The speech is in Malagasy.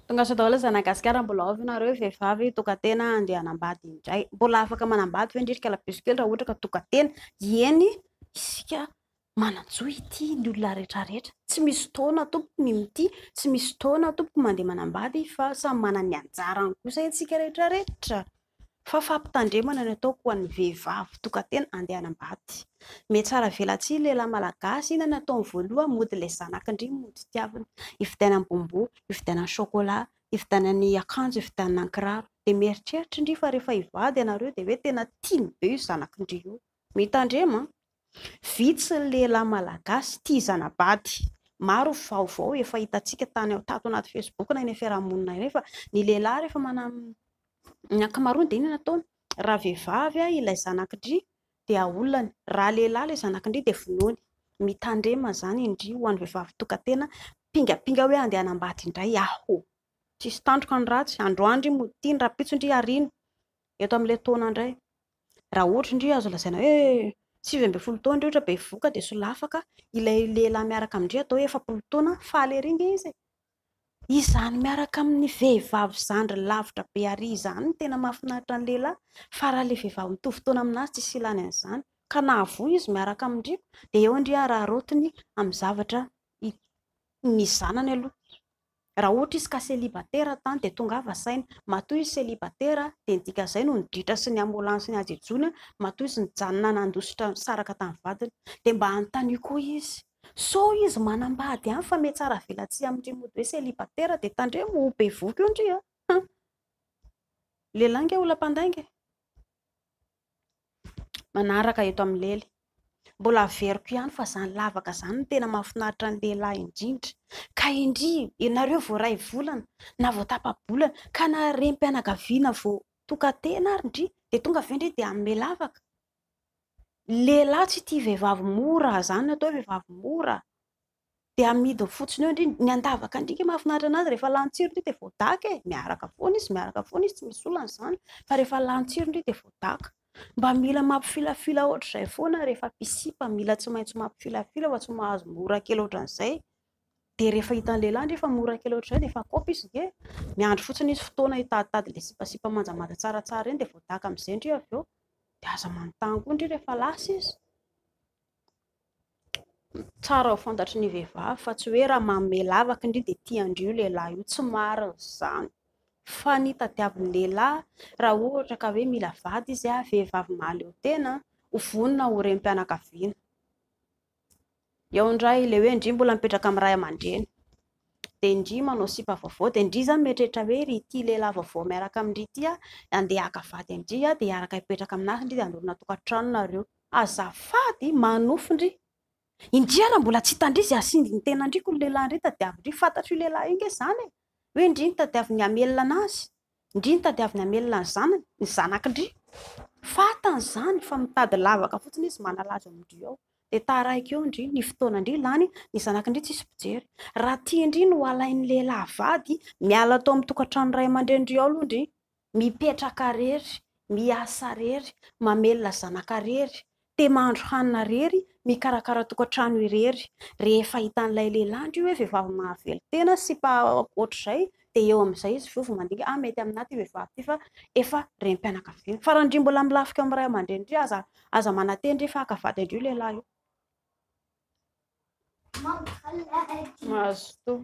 Tongasoa daholo zana gasikara mbola ao ve nareo vehivavy tokatena andeha anambady indray mbola afaka manambady ve ndrindrika la buse kely raha ohatra ka tokatena ieny isika mananjoa ity ny olona rehetra rehetra tsy misy fotoana tompoko ny mitia tsy misy fotoana tompoko mandeha manambady fa samy manana ny anjarany kosa itsika rehetra rehetra fa fampitandremana ny ataoko ho an'ny vehivavy mpitokantena andeha hanambady. Mihatsara velatsihy lehilahy malagasy, inona no ataony voalohany? Mody ilay zanak'ndry mody tiavina, hividianany bonbon, hividianany chocolat, hividianany akanjo, hividianany kiraro, dia mieritreritra ndry fa rehefa hivady ianareo dia hoe tena tiany be io zanak'ndry io. Mitandrema an! Vitsy ny lehilahy malagasy tia zana-bady. Maro ny vaovao efa hitantsika tany tato anaty Facebook na eny amin'ny fiarahamonina eny fa ny lehilahy rehefa manam... ny ankamaroany dia inona no ataony? Raha vehivavy ilay zanak'ndry dia aolany, raha lehilahy ilay zanak'ndry dia vonoiny. Mitandrema izany indry ho an'ny vehivavy tokan-tena mpingapinga hoe handeha hanambady indray aho. Tsisy tandroka ny ratsy, androany ndry mody ity, ny rahampitso ndry hariana, eto amin'ilay taona indray. Raha ohatra indray azo lazaina hoe sivy ambin'ny folo taona indray ohatra bevohoka dia solafaka ilay lehilahy miaraka amin-dry atao hoe efapolo taona, faly ery ange izy e! Izany miaraka amin'ny vehivavy zandriny lavitra be àry izany no tena mahafinaritra ny lehilahy fa raha ilay vehivavy mitovy taona amin'azy tsy hisy ilàny an'izany ka na avoho izy miaraka amin-dry dia eo indry araaraotiny amin'ny zavatra ny zanany aloha. Raha ohatra izy ka selibatera tany dia tongava saina. Matoa izy selibatera dia ny dikan'izay no niditra sy niamolany sy nihajejoana, matoa izy nijanona nandositra nisaraka tamin'ny vadiny. Dia mba anontanio koa izy. Sao izy manambady ihany fa metsara velatsihy amin-dry mody hoe selibatera dia tandremo ho bevohoka eo ndry a! Lehilahy ange olona mpandainga e! manaraka eto amin'ny lely. Mbola averiko ihany fa izany lavaka izany no tena mahafinaritra ny lehilahy indrindra. Ka indry ianareo vao iray volana na vao tapa-bolana ka na renim-pianakaviana vao tokan-tena ary ndry dia tonga ve ndry dia hanome lavaka? Lehilahy tsy tia vehivavy mora, izany no atao hoe vehivavy mora. dia amidiny fotsiny eo ndry ny andavaka ndry ke mahafinaritra anazy rehefa lany tsiro ndry dia voadaka e miaraka foana izy miaraka foana izy tsy misy olana izany fa rehefa lany tsiro ndry dia voadaka mba mila mampifilafila ohatr'izay foana rehefa pisipa mila tsy maintsy mampifilafila fa tsy mahazo mora kely ohatran'izay dia rehefa hitan'ny lehilahy ndry efa mora kely ohatr'izay dia efa kopy izy ndry miandry fotsiny izy fotoana hitaditady le sipasipa manjamanja tsaratsara ireny dia voadaka amin'izay ndry avy eo dia aza manontany koa ndry rehefa lasa izy Tsara ho fantatry ny vehivavy fa tsy hoe raha manome lavaka indry dia tian-dry io lehilahy io, tsy marina izany fa ny tadiavin'ny lehilahy raha ohatra ka hoe mila vady izy ary vehivavy mahaleo tena ho vonona ho renim-pianakaviana. Eo indray ilay hoe ndry mbola mipetraka amin'ny ray aman-dreny dia ndry manao sipa vaovao dia ndry izany mieritreritra hoe ry ity lehilahy vaovao miaraka amin-dry ity handeha haka vady an-dry dia hiaraka hipetraka aminahy ry dia hanorina tokantrano nareo. Azafady manofy ndry. Indria raha mbola tsy hita ndry zay asindry ny tenany ndry ko ny lehilahy ndry tadiaviny ndry fantatro io lehilahy io nge zany e! hoe ndry ny tadiaviny hamelona anazy ndry ny tadiaviny hamelona ny zanany, ny zanaky ndry fatany zany fa mitady lavaka fotsiny izy manalazo amindry ao de taraiky eo ndry ny fotoana ndry lany ny zanaky ndry tsisy mpijery raha tia ndry ny ho alainy lehilahy vady miala ato amin'ny tokatrano ray aman-drenindry ao aloha ndry Mipetraka rery, miasa rery, mamelona zanaka rery, te mahandro hanina rery, mikarakara tokantrano irery. Rehefa hitan'ilay lehilahy ndry hoe vehivavy mahavelon-tena sy mpa ohatr'izay dia eo amin'izay izy vovy mandinika, ah mety aminà ity vehivavy ity fa efa renim-pianakaviana. Fa raha ndry mbola milafika amin'ny ray aman-dreny ndry aza aza mananteny ndry fa haka vady indry io lehilahy io. Mahazo toa.